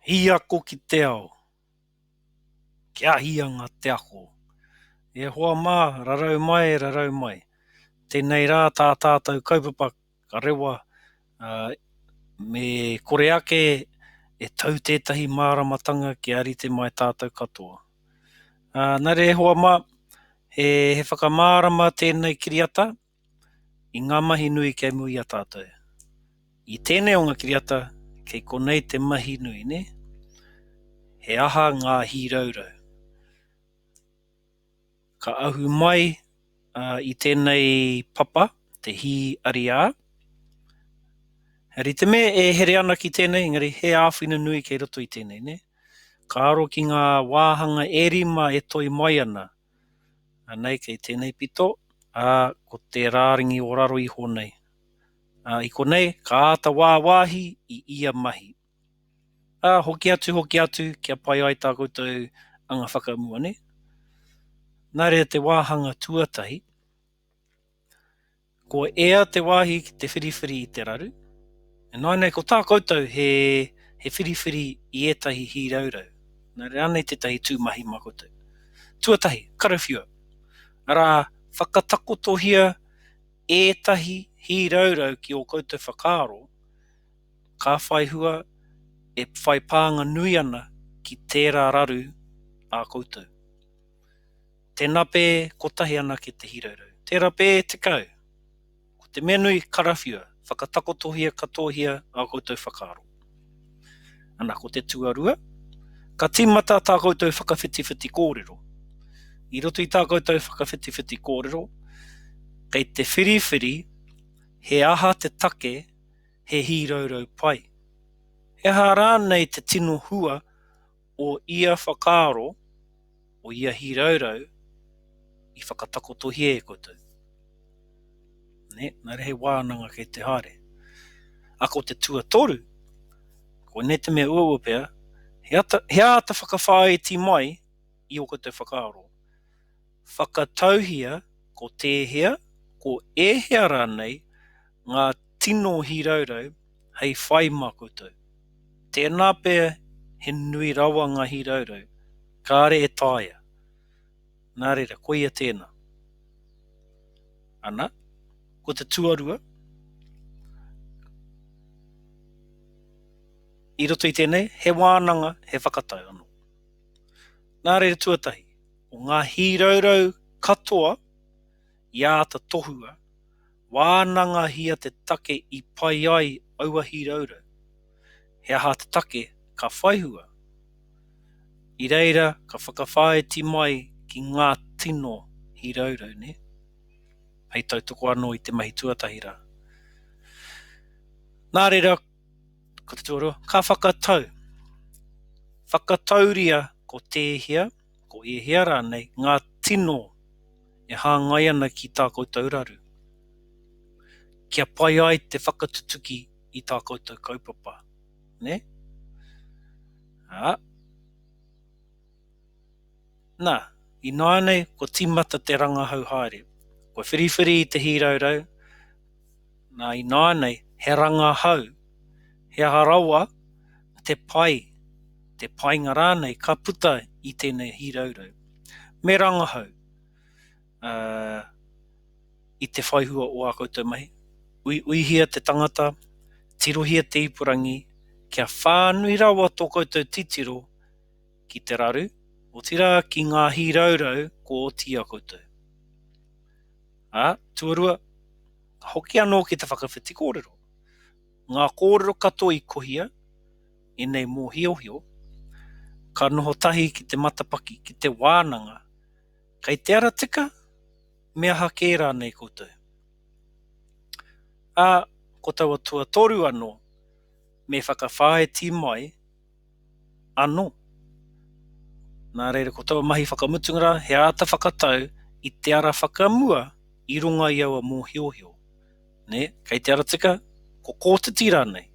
Hīako ki te ao, Kia ahianga te ako. E hoa mā, rarau mai, rarau mai. Tēnei rā tā tātou kaupapa ka rewa, ā, me kore ake e tau tētahi māramatanga kia rite mai tātou katoa. Ā, nā reira e hoa mā, he whakamārama tēnei kiriata, i ngā mahi nui kei mua i a tātou. I tēnei o ngā kiriata, kei konei te mahi nui, nē? He aha ngā hīraurau? Ka ahu mai i tēnei papa te hī ariā. He rite me e here ana ki tēnei, engari he āwhina nui kei roto i tēnei, nē? Ka aro ki ngā wāhanga e rima e toi mai ana. Anei kei tēnei pito, ā, ko te rārangi o raro iho nei. Ā, i konei, ka āta wāwāhi i ia mahi. Ā, hoki atu, hoki atu, kia pai ai tā koutou anga whakamua, nē? Nā reira te wāhanga tuatahi, Ko ea te wāhi ki te whiriwhiri i te raru, ināinei ko tā koutou he he whiriwhiri i ētahi hīraurau, nā reira anei tētahi tū mahi mā koutou. Tuatahi, karawhiua, arā, whakatakotohia ētahi hīraurau ki ō koutou whakaaro ka whai hua e whai pānga nui ana ki tērā raru ā koutou. Te nape kotahi anake te hiraurau. Te rape tekau. Ko te mea nui, karawhiua, whakatakotohia katohia a koutou whakaaro. Ana ko te tuarua, ka timata tā koutou whakawhitiwhiti kōrero. I roto i tā koutou whakawhitiwhiti kōrero, kei te whiriwhiri he aha te take he hīraurau pai. He aha rānei te tino hua o ia whakaaro, o ia hīraurau i whakatakotohia e koutou. Nē, nā reira he wānanga kei te haere. Ā, ko te tuatoru, koinei te mea uaua pea, he āta whakawhāiti mai i ō koutou whakaaro. Whakatauhia ko tēhea, ko ēhea rānei ngā tino hīraurau hei whai mā koutou. Tēnā pea he nui rawa ngā hīraurau kāre e taea. Nā reira, koia tēnā. Ana, ko te tuarua, i roto i tēnei, he wānanga, he whakatau anō. Nā reira, tuatahi. o ngā hīraurau katoa i āta tohua, wānangahia te take i pai ai aua hīraurau, he aha te take ka whaihua, i reira ka whakawhāiti mai ki ngā tino hīraurau, nē? Hei tautoko anō i te mahi tuatahi rā. Nā reira, ko te tuarua, ka whakatau, whakatauria ko tēhea, Ko ēhea rānei ngā tino e hāngai ana ki tā koutou raru, kia pai ai te whakatutuki i tā koutou kaupapa, nē? Ā, nā, ināianei kua tīmata te rangahau haere, kua whiriwhiri i te hīraurau, Nā ināianei, he rangahau, he aha rawa te pai, te painga rānei ka puta i tēnei hīraurau. Me rangahau i te whai hua o ā koutou mahi. Uiuihia te tangata, tirohia te ipurangi, kia whānui rawa tō koutou titiro ki te raru, otirā ki ngā hīraurau kua oti i a koutou. Ā, tuarua, hoki anō ki te whakawhiti kōrero. Ngā kōrero katoa i kohia, ēnei mōhiohio, ka noho tahi ki te matapaki, ki te wānanga, kei te ara tika, me aha kē rānei koutou. Ā, ko taua tuatoru anō, me whakawhāiti mai, anō. Nā reira, ko taua mahi whakamutunga rā, he āta whakatau i te ara whakamua i runga i aua mōhiohio. Nē, kei te ara tika, ko kotiti rānei.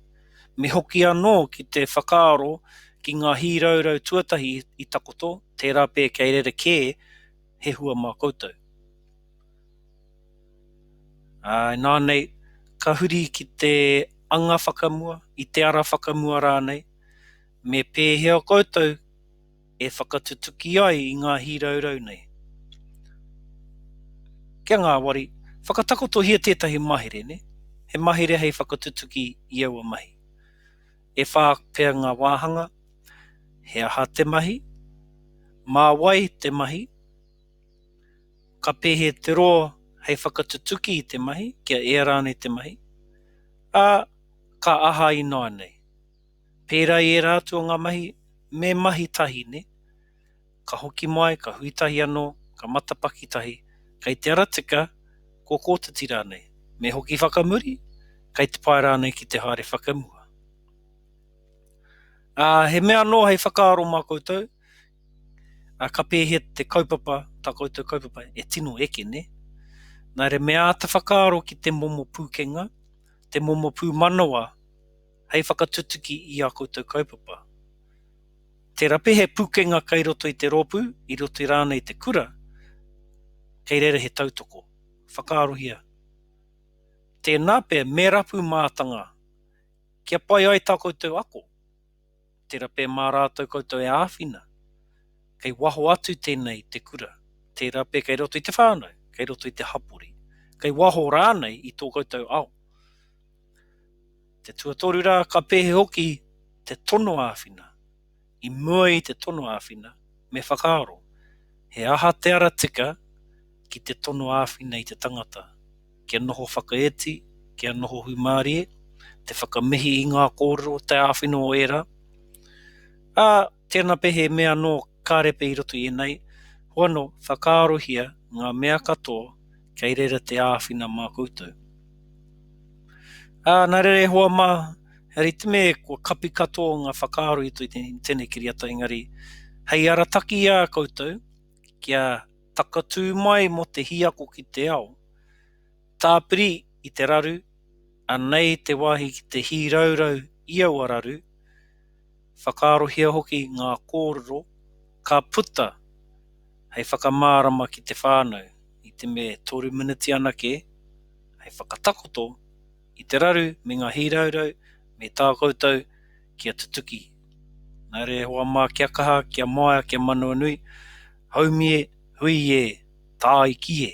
Me hoki anō ki te whakaaro ki ngā hīraurau tuatahi i takoto, tērā pea kei rerekē he hua mā koutou. Inā nei, ka huri ki te anga whakamua, i te ara whakamua rānei, me pēhea koutou e whakatutuki ai i ngā hīraurau nei. Kia ngāwari, whakatakotohia tētahi mahere, nē, he mahere hei whakatutuki i aua mahi. E whā pea ngā wāhanga, he aha te mahi, mā wai te mahi, Ka pēhea te roa hei whakatutuki i te mahi, kia ea rānei te mahi, ā, ka aha ināianei? Pērā i ērā atu o ngā mahi, me mahi tahi, nē? Ka hoki mai, ka hui tahi anō, ka matapaki tahi, kei te ara tika, kua kotiti rānei, me hoki whakamuri, kei te pae rānei ki te haere whakamua. Ā, he mea anō hei whakaaro mā koutou, Ā, ka pēhea te kaupapa, tā koutou kaupapa, e tino eke, nē? Nā reira me āta whakaaro ki te momo pūkenga, te momo pūmanawa hei whakatutuki i ā koutou kaupapa. Tērā pea he pūkenga kei roto i te rōpū, i roto i rānei te kura, kei reira he tautoko. Whakaarohia. Tēnā pea me rapu mātanga kia pai ai tā koutou ako. Tera pe ma ratou koutou e awhina, kei waho atu tenei i te kura, tera pe kei roto i te whanau, kei roto i te hapori, kei waho ranei i to koutou ao. Te tuatoru ra, ka pehe hoki te tono awhina? I mua i te tono awhina, me whakaaro, he aha te ara tika ki te tono awhina i te tangata? kia noho whakaiti, kia noho hūmārie, te whakamihi i ngā kōrero, te āwhina o ērā. Ā, tēnā pea he mea anō ka repe i roto i ēnei, hoano, whakaarohia ngā mea katoa kei reira te āwhina mā koutou. Ā, nā reira e hoa mā, he ritime kua kapi katoa ngā whakaaro i tēnei kiriata engari, hei arataki i a koutou kia Takatū mai mō te hiako ki te ao. Tāpiri i te raru, anei te wāhi ki te hīraurau i aua raru, whakaarohia hoki ngā kōrero ka puta hei whakamārama ki te whānau i te me toru miniti anake hei whakatakoto i te raru me ngā hīraurau me tā koutou kia tutuki. Nā reira e hoa mā kia kaha, kia māia, kia manawanui, haumi e, hui e, tāiki e!